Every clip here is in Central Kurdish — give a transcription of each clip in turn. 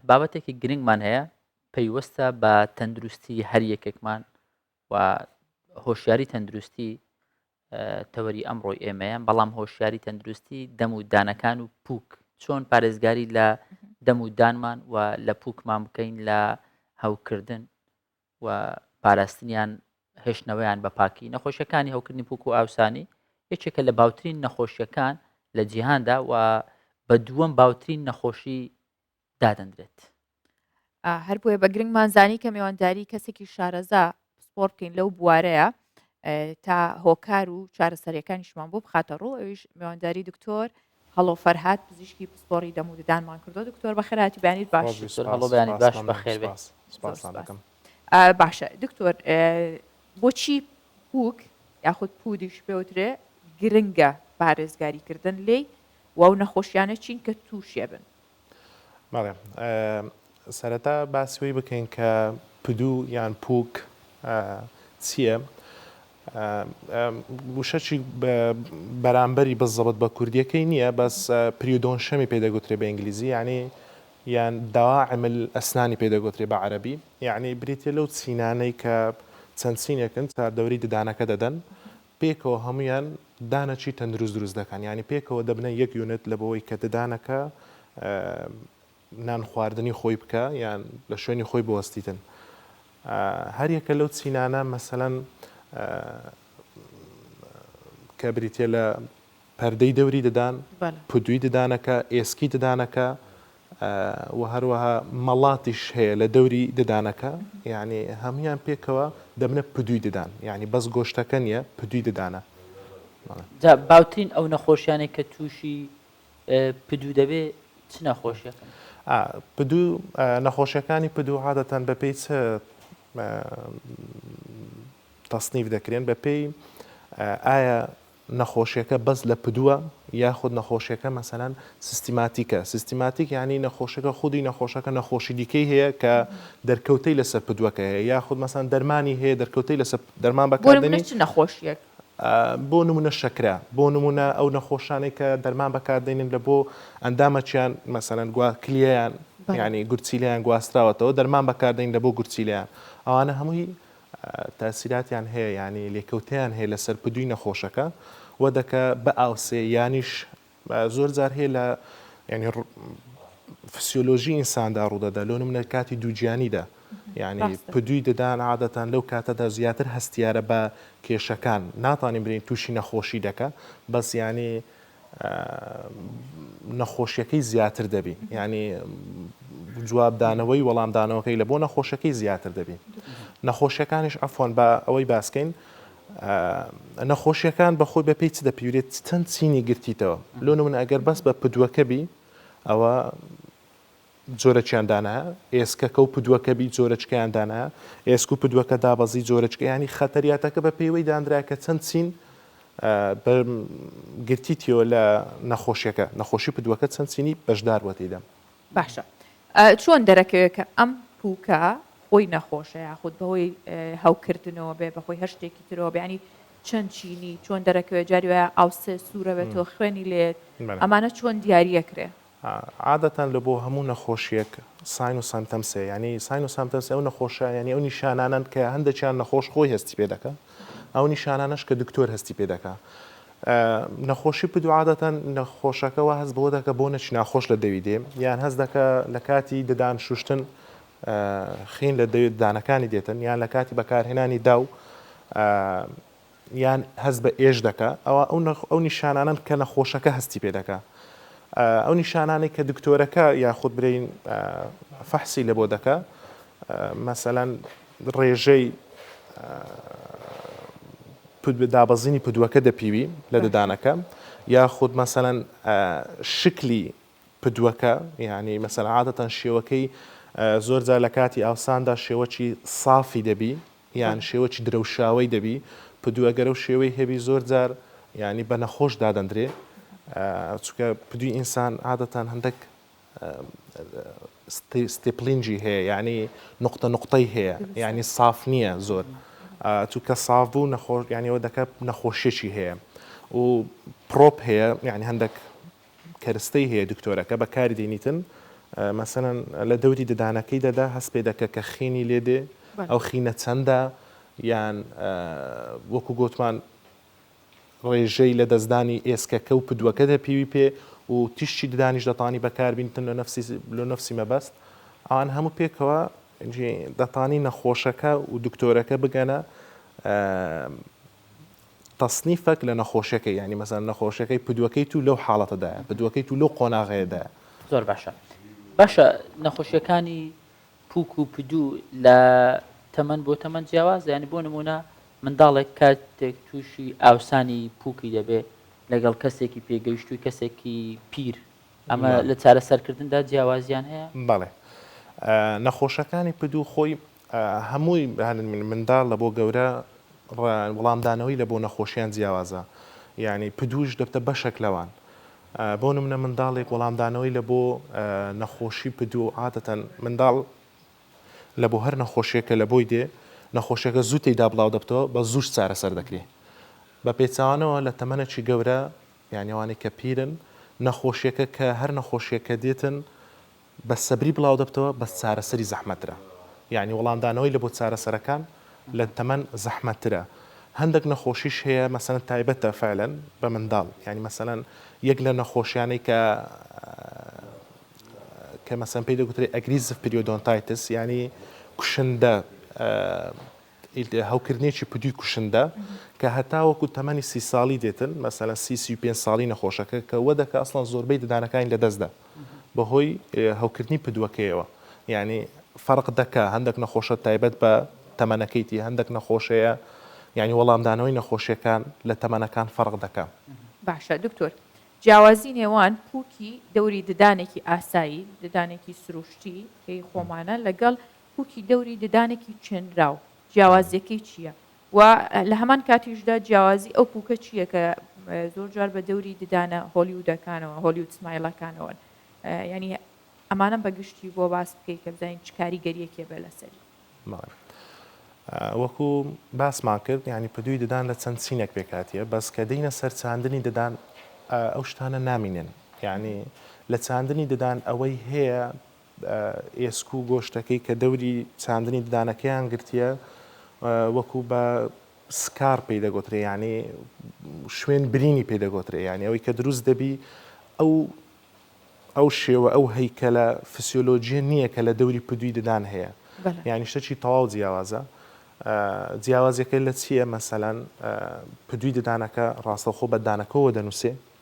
بابەتێکی گرنگمان هەیە پەیوەستە بە تەندروستی هەر یەکێکمان و هۆشیاری تەندروستی تەوەری ئەمڕۆی ئێمەیە بەڵام هۆشیاری تەندروستی دەم و دانەکان و پوک چۆن پارێزگاری لە دەم و دانمان و لە پوکمان بکەین لە هەوکردن و پاراستنیان هێشتنەوەیان بە پاکی نەخۆشیەکانی هەوکردنی پوک و ئاوسانی یەکێکە لە باوترین نەخۆشیەکان لە جیهاندا و بە دووەم باوترین نەخۆشی دادەندرێت هەر بۆیە بە گرنگمان زانی کە مێوانداری کەسێکی شارەزا پسپۆر بکەین لەو بوارەیە تا هۆکار و چارەسەریەکانیشمان بۆ بخاتە ڕوو ئەویش مێوانداری دکتۆر هەڵۆ فەرهاد پزیشکی پسپۆڕی دەم و ددانمان کردووە دکتۆر بەخێر هاتی بەیانیت باش ڕۆژی سور هەڵۆ بەیانیت باش بەخێر بێ زۆر سوپاس باشە دکتۆر بۆچی پووک یاخود پوودیش پێوترێ گرنگە پارێزگاری کردن لێی و ئەو نەخۆشیانە چین کە تووشێ بن بەڵێ سەرەتا باسی وەی بکەین کە پدو یان پوک چییە؟ وشەچی بەرامبەری بزەبت بە کوردیەکەی نییە بەس پریودۆن شەمی پێدەگوترێ بە ئینگلیزی یعنی یان داعمل ئەسنانی پێدەگوترێ بە عەربی یعنی بریتە لەو چینانەی کە چەند چینێکن تا دەوری ددانەکە دەدەن پێکەوە هەموویان دانەکی تەندروست دروست دەکەن یانی پێکەوە دەبنە یەک یونت لە بەوەی کە ددانەکە نانخواردنی خۆی بکە یان لە شوێنی خۆی بوەستیتن هەریەکە لەو چینانە مەسەەن کە بریتە لە پەردەی دەوری ددان، بەلە. پدوی ددانەکە، ئێسکی ددانەکە، وە هەروەها مەڵاتیش هەیە لە دەوری ددانەکە، یەعنی هەموویان پێکەوە دەبنە پدوی ددان، یەعنی بەس گۆشتەکە نیە پدوی ددانە. بەڵێ. جا باوترین ئەو نەخۆشیانەی کە توشی پدو دەبێ چ نەخۆشیەکەن؟ ئا، پدو، نەخۆشیەکانی پدو عادەتەن بە پێی چ تەسنیف دەکرێن بە پێی ئایا نەخۆشیەکە بەس لە پدووە یاخود نەخۆشیەکە مەسەلەن سیستیماتیکە سیستیماتیک یانی نەخۆشەکە خودی نەخۆشەکە نەخۆشی دیکەی هەیە کە دەرکەوتەی لەسەر پدووەکە هەیە یاخود مەسەن دەرمانی هەیە دەرکەوتەی لەسەر دەرمان بەکاردێنی چ نەخۆشیەک بۆ نمونە شەکرە بۆ نمونە ئەو نەخۆشانەی کە دەرمان بەکاردێنین لە بۆ ئەندامەکیان مەسەن گووا کلیەیان ینی گورچیلیان گواستراوەتەوە دەرمان بەکاردین لە بۆ گورچیلیان ئەوانە هەمووی تاسیراتیان هەیە یانی لێکەوتەیان هەیە لەسەر پدوی نەخۆشەکە وە دەکە بئ ئاوسێ یانیش زۆر جار هەیە لە یانی فسیۆلۆژی ئینساندا ڕوودەدا لۆ نمونە کاتی دووگیانیدا یعنی پدوی ددان عادەتەن لەو کاتەدا زیاتر هەستیارە بە کێشەکان ناتانین برین تووشی نەخۆشی دەکە بەس یانی نەخۆشیەکەی زیاتر دەبی یعنی جواب دانەوەی وەڵام دانەوەکەی لە بۆ نەخۆشەکەی زیاتر دەبی نەخۆشیەکانیش ئەفۆن بە ئەوەی باسکەین نەخۆشیەکان بەخۆی بە پێی چ دەپیورێت چەند چینی گرتیتەوە لۆ من ئەگەر بەس بە پدوەکە بی ئەوە جۆرەکیان دانایە، ئێسکەکە و پدوەکە بی جۆرەکیان دانایە، ئێسک و پدوەکە دابەزی جۆرەکە یانی خەتەریاتەکە بە پێیوەی دانرایە کە چەند چین بە گرتی تیەوە لە نەخۆشیەکە نەخۆشی پدوەکە چەند چینی بەشدار بوە تیدا. باشە چۆن دەرەکەوێت کە ئەم پوکە خۆی نەخۆشە یاخود بەهۆی هەوکردنەوە بێ بەخۆی هەشتێکی ترەوە بەینی چەند چینی چۆن دەرەکەوێت جاری وایە ئاوسێ سوورەوێتەوە خوێنی لێت ئەمانە چۆن دیارە کرێ عادەتەن لە بۆ هەموو نەخۆشیەک ساین و سەمتەمس هەیە یانی ساین و سەمتەمسی ئەو نەخۆشە یانی ئەو نیشانانەن کە هەندەکیان نەخۆش خۆی هەستی پێ دەکا ئەو نیشانانەش کە دکتۆر هەستی پێ دەکا نەخۆشی پدو عادەتەن نەخۆشەکە وە هەست بۆ دەکە بۆ نەچ ناخۆش لە دەوی دێ یان هەست دەکە لە کاتی ددان شوشتن خین لە دەوێت دانەکانی دێتن یان لە کاتی بەکارهێنانی داو یان هەست بە ئێش دەکا ئەوا ئەو نەخ ئەو نیشانانەن کە نەخۆشەکە هەستی پێ دەکا ئا ئەو نیشانانەی کە دکتۆرەکە یاخود برین ئا فەحسی لە بۆ دەکا ئا مەسەلەن ڕێژەی ئا پد دابەزینی پدووەکە دەپیوی لە ددانەکە یاخود مەسەلەن ئا شکلی پدوەکە یانی مەسەلەن عادەتەن شێوەکەی زۆر جار لە کاتی ئاوساندا شێوەکی سافی دەبی یان شێوەکی درەوشاوی دەبی پدوە گەرە و شێوەی هەبی زۆر جار ینی بە نەخۆش دادەندرێ چکە پدوی ئینسان عادەتان هەندێک ستیپلینجی هەیە ینی نقطە نقطەی هەیە ینی ساف نییە زۆر چونکە ساف بوو نەخۆش یانەوە دەکە نەخۆشیێکی هەیە و پرۆپ هەیە یعنی هەندێک کەرستەی هەیە دکتۆرەکە بەکاری دەینیتن مەسەلەن لە دەوری ددانەکەی دەدا هەست پێ دەکە کە خینی لێ دێ ئەو خینە چەندە یان وەکو گوتمان ڕێژەی لە دەستدانی ئێسکەکە و پدووەکە دە پێوی پێ و تیشتی ددانیش دەتانی بەکاربینتن لە نفسی لە نفسی مەبەست ئەوان هەموو پێکەوە دەتانی نەخۆشەکە و دکتۆرەکە بگەنە تەسنیفەک لە نەخۆشیەکەی یانی مەسەن نەخۆشیەکەی پدوەکەی تو لەو حاڵەتەدایە پدوەکەی تو لەو قۆناغەیەدایە. زۆر باشە باشە نەخۆشیەکانی پوک و پدو لە تەمەن بۆ تەمەن جیاوازە یانی بۆ نمونە منداڵێک کاتێک تووشی ئاوسانی پوکی دەبێ لەگەڵ کەسێکی پێگەیشتووی کەسێکی پیر ئەمە لە چارەسەرکردندا جیاوازیان هەیە؟ بەڵێ نەخۆشەکانی پدو خۆی هەمووی منداڵ لە بۆ گەورە وڵامدانەوەی لە بۆ نەخۆشیان جیاوازە یانی پدوش دەبتە بەشەک لەوان بۆ نمونە منداڵێک وەڵامدانەوەی لە بۆ نەخۆشی پدو عادەتەن منداڵ لە بۆ هەر نەخۆشیەکە لە بۆی دێ نەخۆشیەکە زوو تێدا بڵاو دەبتەوە بە زووش چارەسەر دەکرێ بە پێچوانەوە لە تەمەنەکی گەورە یانەوانی کە پیرن نەخۆشیەکە کە هەر نەخۆشیەکە دێتن بە سەبری بڵاودەبتەوە بەس چارەسەری زەحمەترە یانی وەڵامدانەوەی لە بۆ چارەسەرەکان لە تەمەن زەحمەترە هەندەک نەخۆشیش هەیە مەسەلەن تایبەتە فەعلەن بە منداڵ یانی مەسەلەن یەک لە نەخۆشیانەی کە کە مەسەلەن پێی دەگوترێ ئەگریسڤ پریۆدۆنتایتس یانی کوشندە هەوکردنێکی پدوی کوشندە کە هەتاوەکو تەمەنی سی ساڵی دێتن مەسەلەن سی سی و پێنج ساڵی نەخۆشەکە کە وە دەکا ئەسڵەن زۆربەی ددانەکانی لە دەست دا بەهۆی هەوکردنی پدوەکەیەوە یانی فەرق دەکا هەندێک نەخۆشە تایبەت بە تەمەنەکەیتی هەندێک نەخۆشەیە یانی وەڵامدانەوەی نەخۆشیەکان لە تەمەنەکان فەرق دەکا. باشە دکتۆر جیاوازی نێوان پوکی دەوری ددانێکی ئاسایی ددانێکی سروشتی کەی خۆمانە لەگەڵ پووکی دەوری ددانێکی چێنراو جیاوازییەکەی چییە و لە هەمان کاتیشدا جیاوازی ئەو پووکە چییە کە زۆر جار بە دەوری ددانە هۆلیوودەکانەوە هۆلیوود سمایلەکانەوەن یعنی ئەمانەم بە گشتی بۆ باس بکەی کە بزانین چ کاریگەریەکێ بێ لەسەری وەکو باسمان کرد ینی پدووی ددان لە چەند چینێک پێکاتیە بەس کە دینە سەرچاندنی ددان ئەو شتانە نامینێن یعنی لە چاندنی ددان ئەوەی هەیە ئێسک و گۆشتەکەی کە دەوری چاندنی ددانەکەیان گرتییە وەکو بە سکار پێی دەگۆترێ یانی شوێن برینی پێ دەگۆترێ یانی ئەوەی کە دروست دەبی ئەو ئەو شێوە ئەو هەیکەلە فسیۆلۆژیە نییە کە لە دەوری پدوی ددان هەیە یانی شتەچی تەواو جیاوازە جیاوازەکە لە چییە مەسەلەن پدوی ددانەکە ڕاستەخۆ بە دانەکەەوە دەنووسێ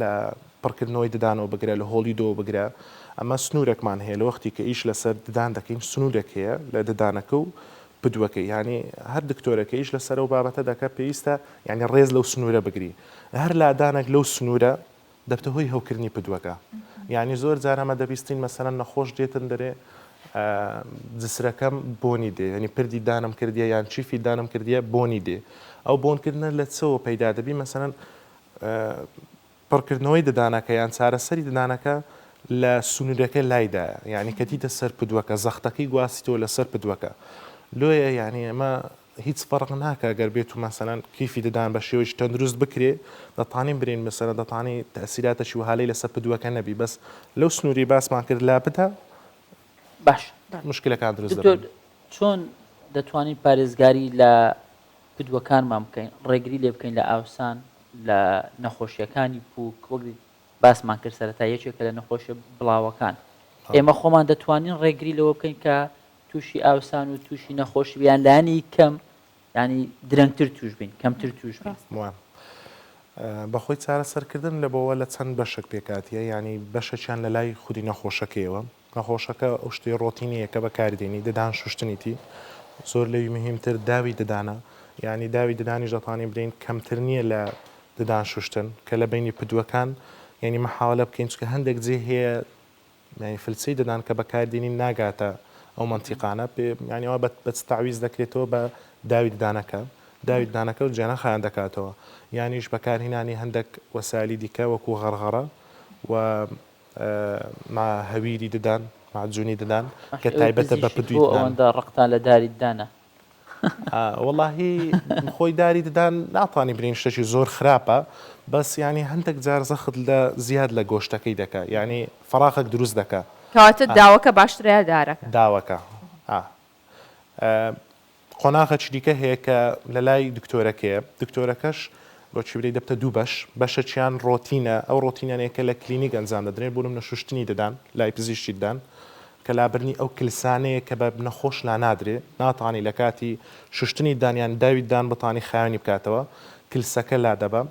لە پڕکردنەوەی ددانەوە بگرە لە هۆڵی دۆ بگرە ئەمە سنوورێکمان هەیە لە وەختی کە ئیش لەسەر ددان دەکەین سنوورێک هەیە لە ددانەکە و پدووەکەی یانی هەر دکتۆرێک کە ئیش لەسەر ئەو بابەتە دەکات پێویستە یانی ڕێز لەو سنوورە بگری هەر لادانێک لەو سنوورە دەبتە هۆی هەوکردنی پدووەکە یانی زۆر جار ئەمە دەبیستین مەسەلەن نەخۆش دێتن دەرێ جسرەکەم بۆنی دێ یعنی پردی دانم کردیە یان چیفی دانم کردیە بۆنی دێ ئەو بۆنکردنە لە چەوە پەیدا دەبی مەسەن پڕکردنەوەی ددانەکە یان چارەسەری ددانەکە لە سنوورەکە لایدایە یعنی کە دیتە سەر پدوەکە زەختەکەی گواستیتەوە لەسەر پدوەکە لۆیە یعنی ئەمە هیچ فەرق ناکە گەر بێت و مەسەەن کیفی ددان بە شێوەی تەندروست بکرێ دەتانی برین مەسەرە دەتانی تەسیراتەشی و هالی لەسەر پدوەکە نەبی بەس لەو سنووری باسمان کرد لا بدا باش مشکلەکان دروست چۆن دەتوانین پارێزگاری لە پدوەکانمان بکەین، ڕێگری لێ بکەین لە ئاوسان لە نەخۆشییەکانی پووک، وەک باسمان کرد سەرەتا یەکێکە لە نەخۆشیە بڵاوەکان. ئێمە خۆمان دەتوانین ڕێگری لەوە بکەین کە تووشی ئاوسان و تووشی نەخۆشی یان لانی کەم ینی درەنگتر توش بین کەمتر توش بین. بەخۆی چارەسەرکردن لە بۆوە لە چەند بەشێک پێکاتیە یانی بەشەکیان لە لای خودی نەخۆشەکەیەوە نەخۆشەکە ئەو شتەی ڕۆتینیە کە بەکاری دێنی ددان شوشتنیتی زۆر لەوی مهیم تر داوی ددانە یانی داوی ددانیش دەتوانین برین کەمتر نییە لە ددان شوشتن کە لە بینی پدوەکان یعنی محاولە بکەین چکە هەندێک جێ هەیە یعنی فلچەی ددان کە بەکار دێنین ناگاتە ئەو منتیقانە یعنی ئەوە بە چ تعویز دەکرێتەوە بە داوی ددانەکە داوی ددانەکە و جێنە خیان دەکاتەوە یانیش بەکارهینانی هەندێک وەسالی دیکە وەکو غەرغەڕە و مع هەویری ددان مع جونی ددان کە تایبەتە بە پدوی ددان. بۆ ئەوەندە ڕقتان لە داری ددانە؟ وەڵاهی خۆی داری ددان ناتوانی بلێین شتێکی زۆر خراپە بەس یانی هەندێک جار زەخت لە زیاد لە گۆشتەکەی دەکا یانی فەراخەک دروست دەکا. کەواتە داوەکە باشترە یا دارەکە؟ داوەکە ئا قۆناغەکی دیکە هەیە کە لە لای دکتۆرەکەیە، دکتۆرەکەش بە چیبرەی دەبتە دوو بەش، بەشەکیان ڕۆتینە، ئەو ڕۆتینانەیە کە لە کلینیک ئەنجام دەدرێن، بۆ نمونە شوشتنی ددان لای پزیشکی ددان، کە لابردنی ئەو کلسانەیە کە بە نەخۆش لانادرێ، ناتانی لە کاتی شوشتنی ددان یان داوی ددان بتانی خاوێنی بکاتەوە، کلسەکە لادەبا،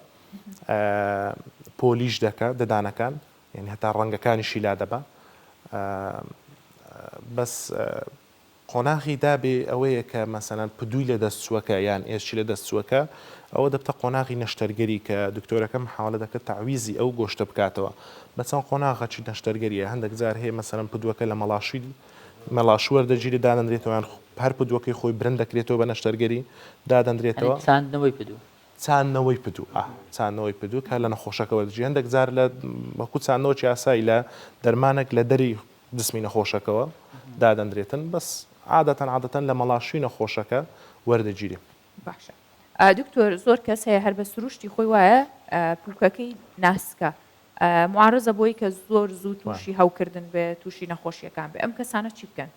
پۆلیش دەکا ددانەکان. یانی هەتا ڕەنگەکانیشی لادەبا بەس قۆناغی دابێ ئەوەیە کە مەسەلەن پدووی لە دەستچووەکە یان ئێسکی لە دەستچووەکە ئەوە دەبتە قۆناغی نەشتەرگەری کە دکتۆرەکە محاوەلە دەکرد تەعویزی ئەو گۆشتە بکاتەوە بە چەند قۆناغەچی نەشتەرگەریە هەندێک جار هەیە مەسەلەن پدووەکە لە مەڵاشی مەلاش وەردەگیری دادەنرێتەوەیان هەر پدووەکەی خۆی برند دەکرێتەوە بە نەشتەرگەری دادەنرێتەوە چاندنەوەی پدوو چاندنەوەی پدو، ئا. چاندنەوەی پدو کە لە نەخۆشەکە وەردەگیرێت هەندێک جار لە وەکو چاندنەوەکی ئاسایی لە دەرمانێک لە دەری جسمی نەخۆشەکەوە دادەندرێتن بەس عادەتەن عادەتەن لە مەڵاشوی نەخۆشەکە وەردەگیرێ. باشە دکتۆر زۆر کەس هەیە هەر بە سروشتی خۆی وایە پوکەکەی ناسکە معارەزە بۆی کە زۆر زوو توشی هەوکردن بێ توشی نەخۆشیەکان بێ ئەم کەسانە چی بکەن؟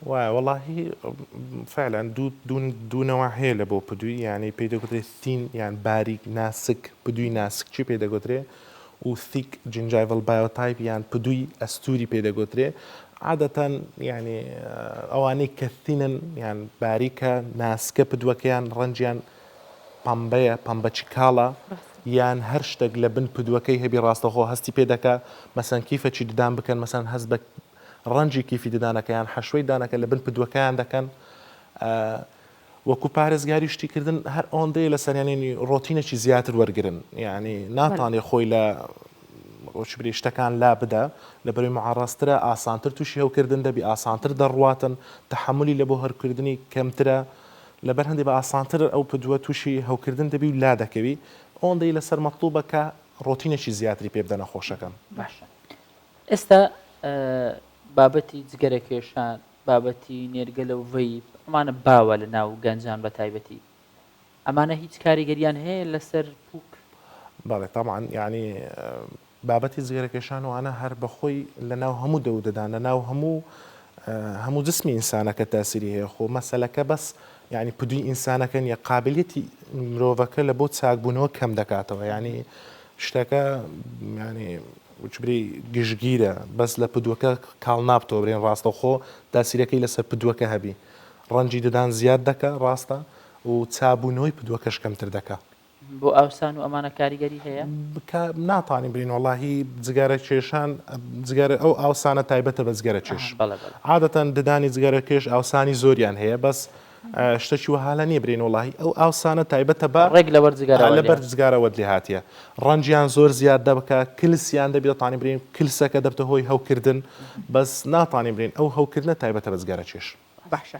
وایە وەڵاهی فعلا دوو دوو دوو نەوە هەیە لە بۆ پدوی یانەی پێی دەگوترێت سین یان باریک ناسک پدوی ناسک چی پێی دەگوترێ و ثیک جنجایڤڵ بایۆتایپ یان پدوی ئەستوری پێ دەگوترێ عادەتەن یعنی ئەوانەی کە ثینن یان باریکە ناسکە پدوەکەیان ڕەنجیان پەمبەیە پەمبەچی کاڵە یان هەر شتێک لە بن پدوەکەی هەبی ڕاستەخۆ هەستی پێ دەکا مەسەن کیفەچی ددان بکەن مەسەن هەست بە ڕەنجی کیفی ددانەکە یان حەشوەی دانەکە لە بن پدوەکەیان دەکەن وەکو پارێزگاری شتیکردن هەر ئەوەندەیە لە سەرێنێنی ڕۆتینێکی زیاتر وەرگن یعنی ناتانێ خۆی لە ڕۆچبری شتەکان لا بدە لە بەروی معڕاسترە ئاسانتر تووشی هەوکردن دەبی ئاسانتر دەڕواتن تحملی لە بۆ هەرکردنی کەمترە لەبەر هەندی بە ئاسانتر ئەو پدووە تووشی هەوکردن دەبی و لا دەکەوی ئەوەندەی لەسەر مەطلوبە کە ڕۆتینێکی زیاتری پێ بدەنە خۆشەکەم باشە ئێستا بابەتی جگەرەکێشان، بابەتی نێرگەلە و ڤەیپ، ئەمانە باوە لە ناو گەنجان بە تایبەتی. ئەمانە هیچ کاریگەریان هەیە لەسەر پوک؟ بەڵێ تەبعەن، یانی بابەتی جگەرەکێشان و ئانا هەر بە خۆی لە ناو هەموو دەو و دەدان، لە ناو هەموو هەموو جسمی ئینسانەکە تاسیری هەیە. خۆ مەسەلەکە بەس یانی پدوی ئینسانەکە نیە، قابلیەتی مرۆڤەکە لە بۆ چاک بوونەوە کەم دەکاتەوە. یانی شتەکە یانی جبرەی گشتگیرە بەس لە پدوەکە کاڵ نابتۆبرێن ڕاستەوخۆ تاسیرەکەی لەسەر پدوەکە هەبی ڕەنجی ددان زیاد دەکا ڕاستە و چابونەوەی پدوەکەش کەمتر دەکا. بۆ ئاوسان و ئەمانە کاریگەری هەیە؟ کا ناتانیم بلین وەڵاهی جگەرە کێشان جگەرە ئەو ئاوسانە تایبەتە بە جگەرە کێش عادەتەن ددانی جگەرە کێش ئاوسانی زۆریان هەیە بەس شتەکی وەها لە نیە برێن وەڵاهی ئەو ئاوسانە تایبەتە بە ڕێک لەبەر جگارە لەبەر جگارەوەت لێ هاتیە ڕەنجیان زۆر زیاد دەبکە کلسیان دەبێت تانی برین کلسەکە دەبتە هۆی هەوکردن بەس ناتانی برین ئەو هەوکردنە تایبەتە بە جگارە چێش باشە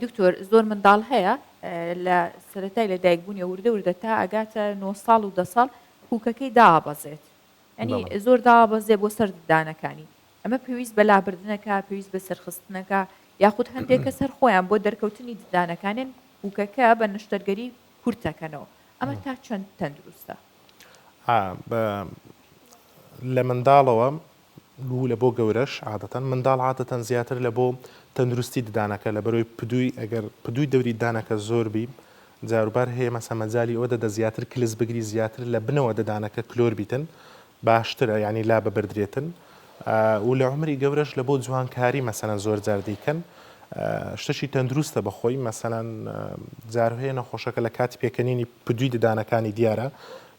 دکتۆر زۆر منداڵ هەیە لە سەتای لە دایکبوونی وردە وردە تا ئەگاتە نۆ ساڵ و دە ساڵ پوکەکەی دابەزێت ئەنی زۆر دابەزێ بۆ سەردانەکانی ئەمە پێویست بە لابردنەکە، پێویست بە سەرخستنەکە، یاخود هەندێک کەس هەر خۆیان بۆ دەرکەوتنی ددانەکانیان پووکەکە بە نەشتەرگەری کورت دەکەنەوە، ئەمە تا چەند تەندروستە؟ ئا، بە، لە منداڵەوە و لە بۆ گەورەش عادەتەن، منداڵ عادەتەن زیاتر لە بۆ تەندروستی ددانەکە لە بەرۆی پدووی، ئەگەر پدووی دەوری ددانەکە زۆر بی، جاروبار هەیە مەسە مەجالی ئەوە دەدە زیاتر کلس بگری، زیاتر لە بنەوە ددانەکە کلۆر بیتن، باشترە یانی لاببردرێتن و لە عومری گەورەش لە بۆ جوانکاری مەسەەن زۆر جار دەیکەن شتەکی تەندروستە بەخۆی مەسەەن جارهەیە نەخۆشەکە لە کاتی پێکەنینی پدوی ددانەکانی دیارە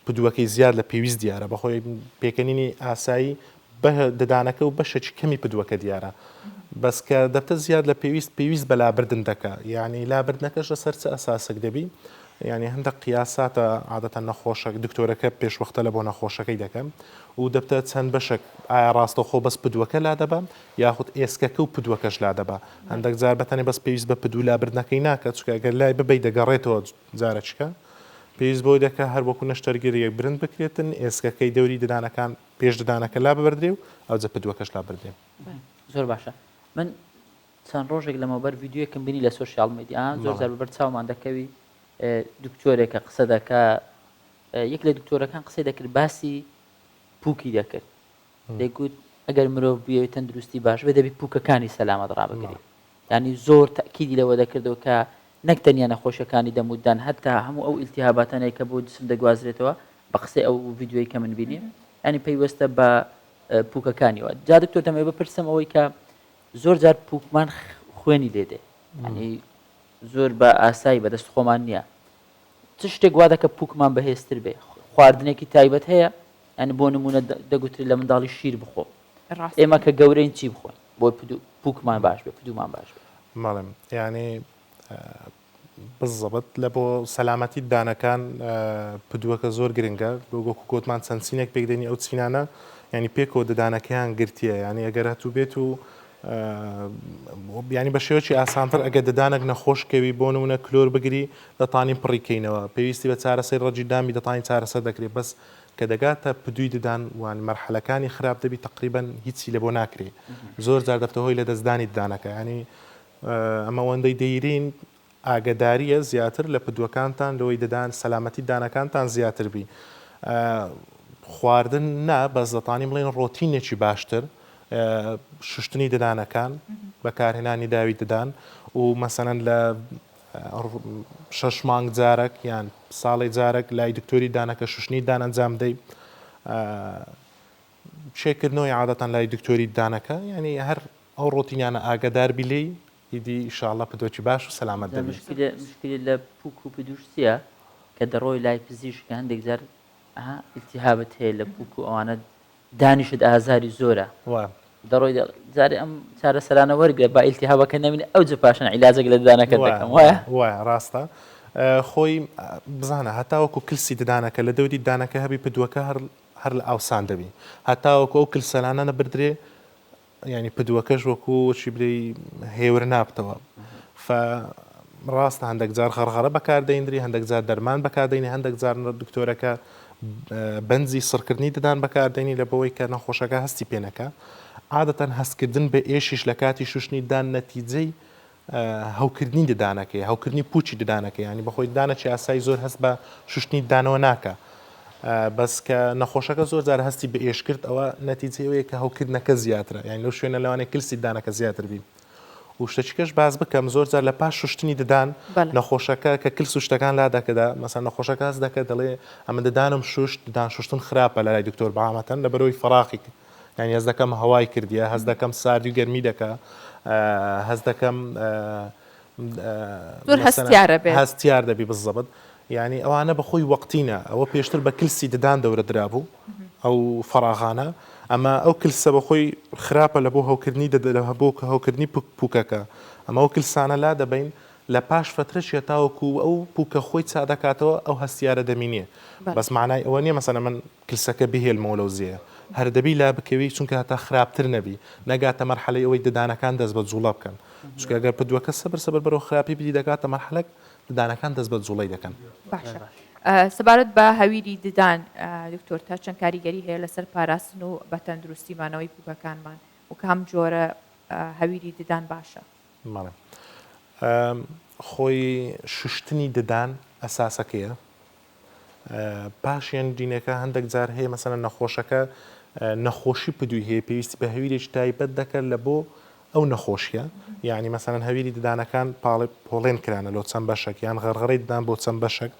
پدووەکەی زیاد لە پێویست دیارە بەخۆی پێکەنینی ئاسایی بە ددانەکە و بەشێکی کەمی پدووەکە دیارە بەس کە دەبتە زیاد لە پێویست پێویست بە لابردن دەکە یعنی لابردنەکەش لەسەر چ ئەساسێک دەبی یانی هەندەک قیاس ساتە عادەتەن نەخۆشەک دکتۆرەکە پێشوەختە لە بۆ نەخۆشەکەی دەکەم و دەبتە چەند بەشەک ئایا ڕاستەوخۆ بەس پدوەکە لادەبا یاخود ئێسکەکە و پدوەکەش لادەبا هەندەک جار بەتەنێ بەس پێویست بە پدو لابردنەکەی ناکە چکە گەر لای ببەی دەگەڕێتەوە جارەچکە پێویست بەوەی دەکە هەر وەکو نەشتەرگەری یەک برند بکرێتن ئێسکەکەی دەوری ددانەکان پێش ددانەکە لاببردرێ و ئەوجە پدوەکەش لابردرێ. زۆر باشە من چەند ڕۆژێک لەمەوبەر ڤیدیۆیەکم بینی لە سۆشیاڵ میدیا زۆر جار بەبەر چاومان دەکەوی دکتۆرێکە قسە دەکە یەک لە دکتۆرەکان قسەی دەکرد باسی پووکی دەکرد دەیگوت ئەگەر مرۆڤ بووێت تەندروستی باش بێ دەبی پووکەکانی سەلامەت ڕابگری ینی زۆر تاکیدی لەوە دەکردەوە کە نەک تەنیا نەخۆشەکانی دەموددان هەتا هەموو ئەو ئیلتیهاباتانەیە کە بۆ جسم دەگوازرێتەوە بە قسەی ئەو ڤیددیوی کە من بینیم ینی پەیوەستە بە پووکەکانیەوە جا دکتۆر دەمەوێت بپرسم ئەوەی کە زۆر جار پووکمان خوێنی لێ دێ یانی زۆر بە ئاسایی بەدەست خۆمان نییە چ شتێک وا دەکە پووکمان بەهێزتر بێ خواردنێکی تایبەت هەیە یعنی بۆ نمونە دەگوتری لە منداڵی شیر بخۆ ئێمە کە گەورەین چی بخۆین بۆ پووکمان باش بێ پدومان باش بێ ماڵم یعنی بززبت لە بۆ سەلامەتیت دانەکان پدوەکە زۆر گرنگە وەکو گۆتمان چەند چینێک پێکدێنی ئەو چینانە یعنی پێکەوە ددانەکەیان گرتیە یعنی ئەگەر هەتوو بێت و بیانی بە شێوەی ئاسانتر ئەگە ددانێک نەخۆشکەوی بۆ نمونە کلۆر بگری دەتانی پڕیکەینەوە پێویستی بە چارەسەی ڕەجی دامی دەتانی چارەسەر دەکرێت بەس کە دەگاتە پدوی ددان وان مەرحەلەکانی خراپ دەبی تقریبان هیچی لە بۆ ناکرێ زۆر جار دەبتە هۆی لە دەستدانی ددانەکە ینی ئەمەوەندەی دەیرین ئاگەداریە زیاتر لە پدوەکانتان لەوەی ددان سەلامەتی دانەکانتان زیاتر بی خواردن نا بەس دەتانی بڵێن ڕۆتینێکی باشتر شوشتنی ددانەکان بەکارهێنانی داوی ددان و مەسەەن لە شەش مانگ جارەک یان ساڵی جارەک لای دکتۆری دانەکە شوشنی دانەنجام دەی شێکردنەوەی عادەتان لای دکتۆری دانەکە یعنی هەر ئەو ڕۆتینانە ئاگەدار بی لێی ئیدی ئیشاڵا پدۆکی باش و سەلامەت جا دەبی. مشکیلە مشکیلە لە پوک و پدوش چیە کە دەڕۆی لای پزیشک هەندێک جار ها التهابت هەیە لە پوک و ئەوانە دانیشت ئازاری زۆرە وە. دەڕۆی دە جارێ ئەم چارەسەرانە وەرگرە با التهابەکە نەمینێ ئەوجە پاشان عیلاجەک لە ددانەکەت وە دەکەم وایە؟ وە وە ڕاستە خۆی بزانە هەتاوەکو کلسی ددانەکە لە دەوری ددانەکە هەبی پدوەکە هەر هەر لە ئاوسان دەبی هەتاوەکو ئەو کلسەلانە نەبردرێ یانی پدوەکەش وەکو چی بلێی هێور نابتەوە فە ڕاستە هەندێک جار غەرغەرە بەکاردەیندری هەندێک جار دەرمان بەکاردەینی هەندێک جار دکتۆرەکە بەنجی سڕکردنی ددان بەکاردێنی لە بەوەی کە نەخۆشەکە هەستی پێنەکە عادەتەن هەستکردن بە ئێشیش لە کاتی شوشتنی دان نەتیجەی هەوکردنی ددانەکەی، هەوکردنی پووچی ددانەکەی، یانی بەخۆی ددانەکی ئاسایی زۆر هەست بە شوشتنی ددانەوە ناکا، بەس کە نەخۆشەکە زۆر جار هەستی بە ئێش کرد ئەوە نەتیجەی ئەوەیە کە هەوکردنەکە زیاترە، یانی لەو شوێنە لەوانەیە کلسی ددانەکە زیاتر بی. و شتەکیکەش باس بکەم زۆر جار لە پاش شوشتنی ددان نەخۆشەکە کە کلس و شتەکان لا دەکدا مەسەن نەخۆشەکە هەست دەکە دەڵێ ئەمن ددانم شوشت ددان شوشتن خراپە لە لای دکتۆر بەعامەتەن لەبەرەوەی فەراقی کرد یانی هەست دەکەم هەوای کردیە هەست دەکەم ساردی و گەرمی دەکا هەست دەکەم هەستیار دەبی بزەبت یعنی ئەوانە بەخۆی وەقتینە ئەوە پێشتر بە کلسی ددان دەورە درابوو ئەو فراغانە ئەمە ئەو کلسە بەخۆی خراپە لە بۆ هەوکردنی دەدەرە هەبوو کە هەوکردنی پوکەکە ئەمە ئەو کلسانە لا دەبین لە پاش فترەشیە تاوەکو ئەو پوکە خۆی چادەکاتەوە ئەو هەستیارە دەمینێ بەس مانای ئەوە نیە مەسەە من کلسەکە بهێلمەوە لەو زێیە هەر دەبی لا بکەوی چونکە هەتا خراپتر نەبی نەگاتە مەرحەلەی ئەوەی ددانەکان دەست بە جوڵە بکەن چونکە گەر پدوەکە سەبر سەبر بەرەو خراپی بری دەگاتە مەرحەلەک ددانەکان دەست بە جوڵەی دەکەن. باشە سەبارەت بە هەویری ددان دکتۆر تا چەند کاریگەری هەیە لەسەر پاراستن و بە تەندروستی مانەوەی پوکەکانمان و کام جۆرە هەویری ددان باشە؟ بەڵێ خۆی شوشتنی ددان ئەساسەکەیە پاشیان دینەکە هەندەک جار هەیە مەسەنە نەخۆشەکە نەخۆشی پدوی هەیە پێویستی بە هەویرێکی تایبەت دەکرد لە بۆ ئەو نەخۆشیە یعنی مەسەن هەویری ددانەکان پاڵێ پۆڵێن کرانە لۆ چەند بەشەک یان غەرغڕی ددان بۆ چەند بەشەک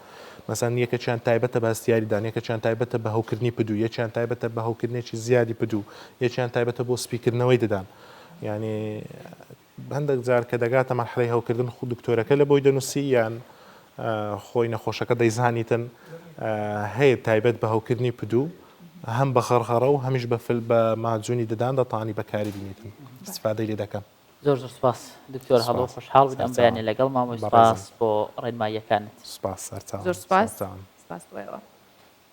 مەسەن یەکەچیان تایبەتە باستیاری دان یەکەچیان تایبەتە بە هەوکردنی پدو یەکیان تایبەتە بە هەوکردنێکی زیادی پدو یەکیان تایبەتە بۆ سپیکردنەوەی ددان یعنی هەندەک جار کە دەگاتە مەرحەلەی هەوکردن خو دکتۆرەکە لە بۆی دەنوسی یان خۆی نەخۆشەکە دەیزانیتن هەیە تایبەت بە هەوکردنی پدوو هەم بە غەڕغەڕە و هەمیش بە فل بە ماجونی ددان دەتانی بەکاری بینیتن استفادەی لێ دەکەن زۆر زۆر سپاس دکتۆر هەڵۆ خۆشحاڵ بن ئەم بەیانە لەگەڵ مامۆی سپاس بۆ ڕێنماییەکانت سپاس زۆر سپاس سپاس بۆ ئێوە